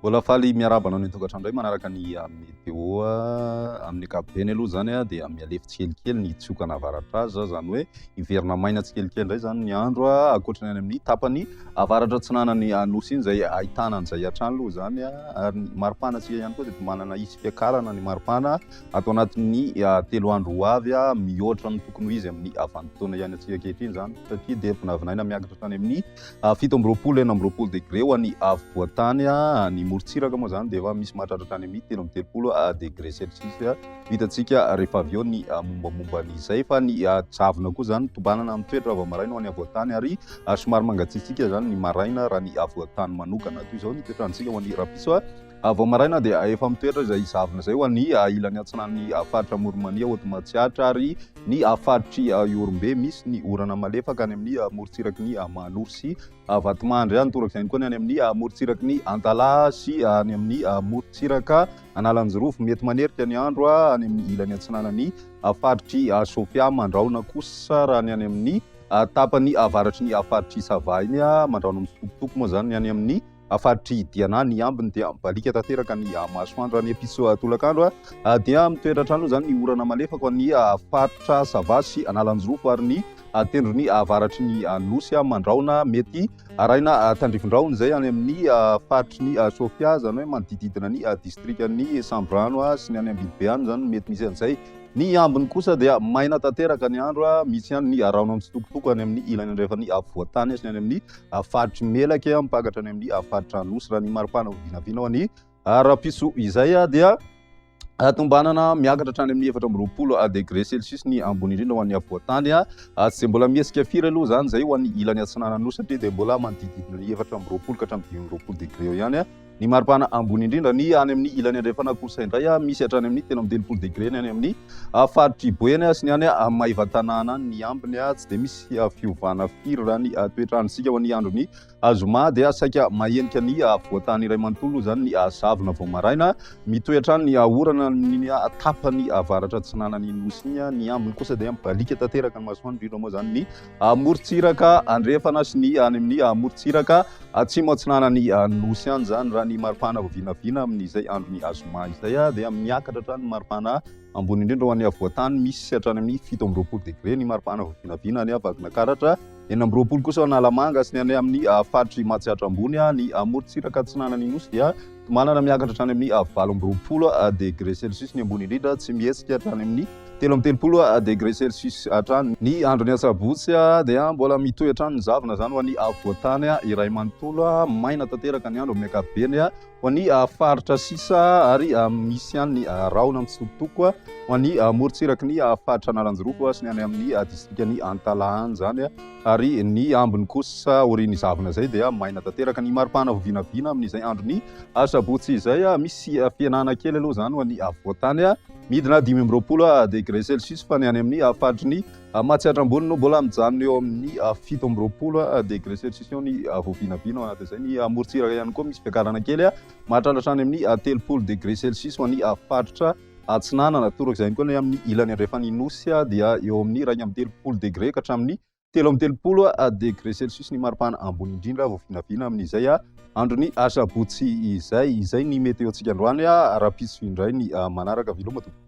Mbola faly miarahaba anao ny an-tokantrano indray manaraka ny ah, météo ah, amin'ny ankapobeny aloha izany ah, dia mihalefy tsikelikely ny tsioka navaratra azy za, izany hoe hiverina maina tsikelikely indray izany ny andro ankoatra ny any amin'ny tapany avaratra atsinanany anosy iny izay ahitana an'izay hatrany aloha izany ary ny maripana antsika ihany koa dia manana hisy fiakarana ny maripana ato anatin'ny telo andro ho avy a mihoatra ny tokony ho izy amin'ny avanimpotoana ihany antsika ankehitriny izany satria dia vinavinaina miakatra tany amin'ny Fito amby roapolo, enina amby roapolo degré ho an'ny afovoan-tany. Ny morontsiraka moa izany dia efa misy mahatratra hatrany amin'ny telo amby telopolo degré celsius. Hitantsika rehefa avy eo ny mombamomba an'izay. Fa ny zavona koa izany tombanana amin'ny toetra vao maraina ho an'ny afovoan-tany ary somary mangatsiatsiaka izany ny maraina raha ny afovoan-tany manokana. Toy izao ny toetrandrontsika ho an'ny rahampitso. A Vao maraina dia efa mitoetra izay zavona izay ho an'ny ilany atsinan'ny Faritra Amoron'i-Mania ao Atomahatsiatra ary ny Faritr'i Ihorombe. Misy ny orana malefaka any amin'ny morontsiraky ny Mahanoro sy Vatomandry any, torak'izay ihany koa ny any amin'ny morontsiraky ny Antalaha sy any amin'ny morontsiraka Analanjirofo. Mety manerika ny andro any amin'ny ilany atsinanan'ny Faritr'i Sofia Mandrahona kosa raha ny any amin'ny tapany avaratry ny Faritr'i Sava iny. Mandrahona mitsitokotoko moa izany ny any amin'ny Amin'ny faritry Diana ny ambiny dia mibaliaka tanteraka ny masoandro any Epitso tolakandro dia mitoetra hatrany moa izany ny orana malefaka ho an'ny faritra Sava sy Analanjirofo ary ny tendrony avaratry ny nosy Mandrahona mety arahina tandrifindrahona izay any amin'ny faritry ny Sofia izany hoe manodidididina ny distrikan'ny Samborano sy ny any Ambilobe any izany mety misy an'izay. Ny ambiny kosa dia maina tanteraka ny andro misy ihany ny rahona mitsitokotoko any amin'ny ilany andrefan'ny afovoantany sy ny any amin'ny faritry Melaky mipankatra any amin'ny faritra Anosy raha ny maripana ho vinavina ao any Rapiso izay dia tombanana miakatra hatrany amin'ny efatra amby roapolo degré celsius ny ambony indrindra ho an'ny afovoantany tsy dia mbola mihesika firy aloha izany izay ho an'ny ilany atsinanana nosy satria dia mbola manodidididina ny efatra amby roapolo ka hatramin'ny dimy amby roapolo degré eo ihany Ny maripana ambony indrindra ny any amin'ny ilany andrefana kosa indray misy hatrany amin'ny telo amby telopolo degré ny any amin'ny faritr'i Boeny sy ny any Maevatanàna ny ambiny tsy dia misy fiovana firy raha ny toetr'androntsika ho an'ny andron'ny zoma dia saika mahenika ny voatany iray manontolo izany ny zavona vao maraina mitohy hatrany ny orana ny tapany avaratra atsinanan'ny nosy ny ambiny kosa dia mibaliaka tanteraka ny masoandro indrindra moa izany ny amorontsiraka andrefana sy ny any amin'ny amorontsiraka atsimo atsinanan'ny nosy any izany raha ny maripana vinavina amin'izay andron'ny azoma izay dia miakatra hatrany maripana ambony indrindra ho an'ny avoantany misy hatrany amin'ny fito amby roapolo degre ny maripana vinavina any avadinakaratra eny amby roapolo kosa ho analamanga sy ny any amin'ny faritry matsiatra ambony ny amorontsiraka atsinanan'ny nosy dia Tomanana miakatra hatrany amin'ny valo amby roapolo degre celsius ny ambony indrindra, tsy mihetsika hatrany amin'ny telo amby telopolo degre celsius hatrany. Ny andron'ny asabotsy dia mbola mitohy hatrany ny zavona, izany ho an'ny afovoan-tany iray manontolo. Maina tanteraka ny andro amin'ny ankapobeny ho an'ny faritra sisa ary misy ihany ny rahona mitsitokotoko ho an'ny morontsiraky ny faritra Analanjirofo sy ny any amin'ny distrikan'i Antalahan izany. ary ny ambiny kosa aorian'ny zavona izay dia maina tanteraka. Ny maripana vao vinavina amin'izay andron'ny asabotsy izay, misy fihenana kely aloha izany ho an'ny afovoan-tany, midina dimy amby roapolo degré celsius, fa ny any amin'ny faritry ny Matsiatra Ambony no mbola mijanona eo amin'ny fito amby roapolo degré celsius eo ny vao vinavina. Ao anatin'izay ny morontsiraka ihany koa misy fiakarana kely mahatratra hatrany amin'ny telopolo degré celsius ho an'ny faritra. Atsinanana, torak'izay ihany koa ny amin'ny ilany andrefan'ny Nosy dia eo amin'ny iraika amby telopolo degre ka hatramin'ny telo amby telopolo degre celsius ny maripana ambony indrindra vao vinavina amin'izay andron'ny asabotsy izay. Izay ny meteontsika androany ara-pitsipy indray ny manaraka veloma tompoko.